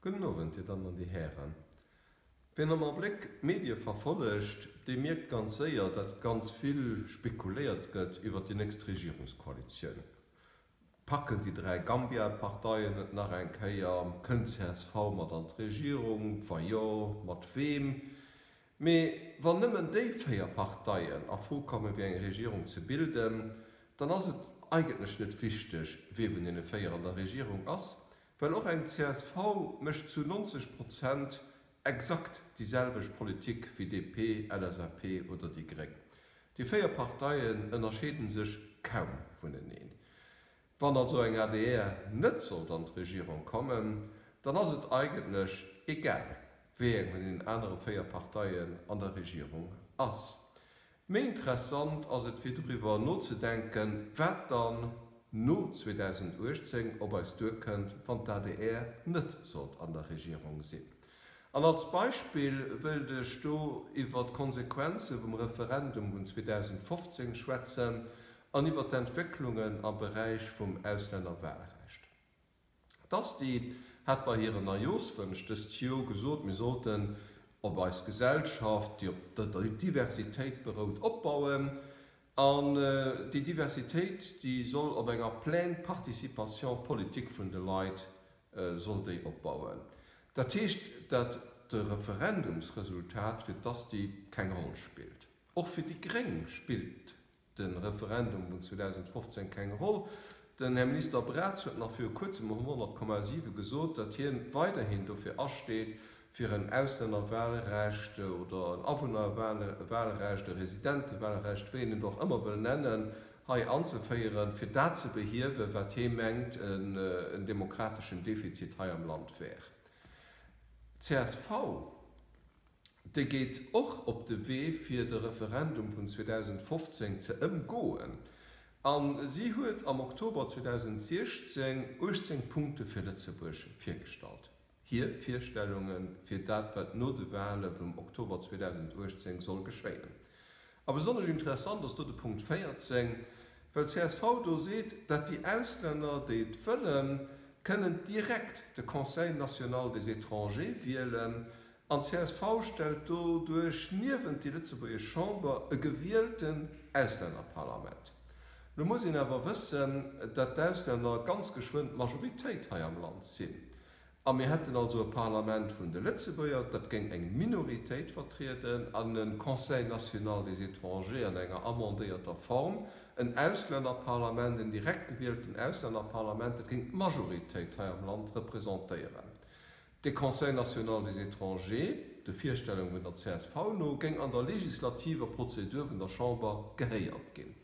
Gudden Owend, Dir Dammen an Dir Hären. Wien am Abléck d'Medie verfollegt, dee mierkt ganz séier, datt ganz vill spekuléiert gëtt iwwer déi nächst Regierungskoalitioun. Packen déi dräi Gambia-Parteien et nach eng Kéier? Kënnt csv mat an d'Regierung? Wa jo, mat weem? Mee wann nëmmen déi véier Parteien a Fro komme fir eng Regierung ze bilden, dann ass et eigentlech net wichteg, wie vun deene véier an der Regierung ass, well och eng csv mécht zu 90 Prozent exakt déi selwecht Politik wéi DP, LSAP oder déi Gréng. Déi véier Parteien ënnerscheede sech kaum vuneneen. Wann also eng adr net sollt an d'Regierung kommen, dann ass et eigentlech egal, wéi eng vun den anere véier Parteien an der Regierung ass. Méi interessant ass et fir doriwwer nozedenken, wat dann no 2018 op eis duerkënnt, wann d'ADR net sollt an der Regierung sinn. An als Beispill wëilt ech do iwwer d'Konsequenze vum Referendum vun 2015 schwätzen, an iwwer d'Entwécklungen am Beräich vum Auslännerwahlrecht. D'Asti hat bei hiren Neujooschwënsch dëst Jor gesot, mir sollten op eis Gesellschaft, déi op der Diversitéit berout, opbauen an déi Diversitéit, déi soll op enger pleine participation politique vun de Leit, soll déi opbauen. Dat heescht, dat de Referendumsresultat fir d'Asti keng Roll spillt. Och fir déi Gréng spillt de Referendum vun 2015 keng Roll. Den Här Minister Braz huet nach viru kuerzem um 100,7 gesot, datt hien weiderhin dofir asteet, fir en Auslännerwahlrecht oder en Awunnerwahlrecht, e Residentewahlrecht, wéi een et och ëmmer wëll nennen, hei anzeféieren, fir dat ze behiewen, wat hie mengt en demokrateschen Defizit hei am Land wär. Csv. De geet och op de Wee fir de Referendum vun 2015 ze ëmgoen a si huet am Oktober 2016 18 Punkte fir Lëtzebuerg virgestallt. Hir Virstellunge fir dat wat no de Wahle vum Oktober 2018 soll geschéien. A besonnesch interessant ass do de Punkt 14, well csv do seet, dat déi Auslänner déi et wëllen, kënnen direkt de Conseil national des étrangers wielen An csv stellt doduerch niewent déi lëtzebuergesch Chamber e gewielten Auslännerparlament. Lo muss een awer wëssen, datt d'Auslänner ganz geschwënn d'Majoritéit hei am Land sinn. A mir hätten also e Parlament vun de Lëtzebuerger, dat géing eng Minoritéit vertrieden, an e Conseil national des étrangers an enger amendéierter Form, en Auslännerparlament, en direkt gewielten Auslännerparlament, dat géing d'Majoritéit hei am Land representéieren. De Conseil national des étrangers, de Virstellunge vun der csv no, géing an der legislativer Prozedur vun der Chamber gehéiert ginn.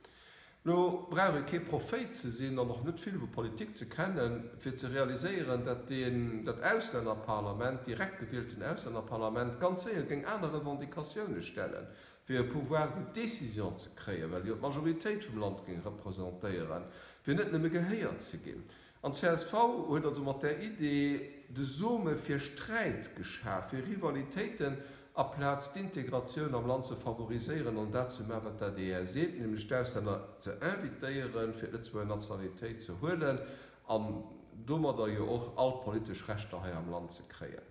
Lo brauch ee kee Prophéit ze sinn an och net vill vu Politik ze kennen, fir ze realiséieren, datt deen, dat Auslännerparlament, direkt gewielten Auslännerparlament, ganz séier géing aner Revendicatioune stellen, fir e Pouvoir de décision ze kréien, well jo d'Majoritéit vum Land géing representéieren, fir net nëmme gehéiert ze ginn. An d'CSV huet also mat där Idee de Some fir Sträit geschaf, fir Rivalitéiten, aplaz d'Integratioun am Land ze favoriséieren an dat ze maachen, wat d'ADR seet, nämlech d'Auslänner ze invitéieren, fir d'Lëtzebuerger Nationalitéit ze huelen an domadder jo och all politesch Rechter hei am Land ze kréien.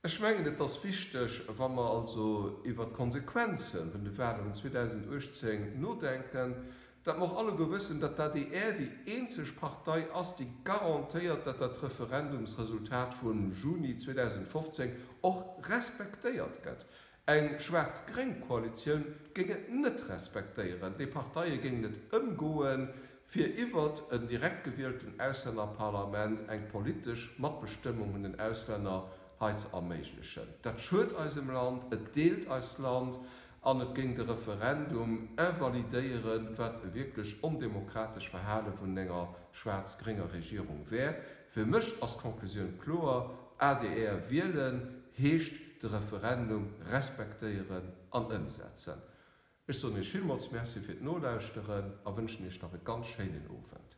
Ech mengen, et ass wichteg, wa mer also iwwert d'Konsequenze vun de Wahlen 2018 nodenken, datt mer och alleguer wëssen, datt d'ADR déi eenzeg Partei ass, déi garantéiert, datt dat Referendumsresultat vum Juni 2015 och respektéiert gëtt. Eng schwaarz-gréng Koalitioun géing et net respektéieren. Déi Parteie géingen et ëmgoen, fir iwwert en direkt gewielten Auslännerparlament eng politesch Matbestëmmung un den Auslänner hei ze erméiglechen. Dat schued eisem Land, et deelt eist Land an et géing de Referendum invalidéieren, wat e wierklech ondemokratesch Verhale vun enger schwaarz-grénger Regierung wär, Fir mech ass d'Conclusioun kloer, adr wielen heescht de Referendum respektéieren an ëmsetzen. Ech soen Iech villmools Merci fir d'Nolauschteren a wënschen Iech nach e ganz schéinen Owend.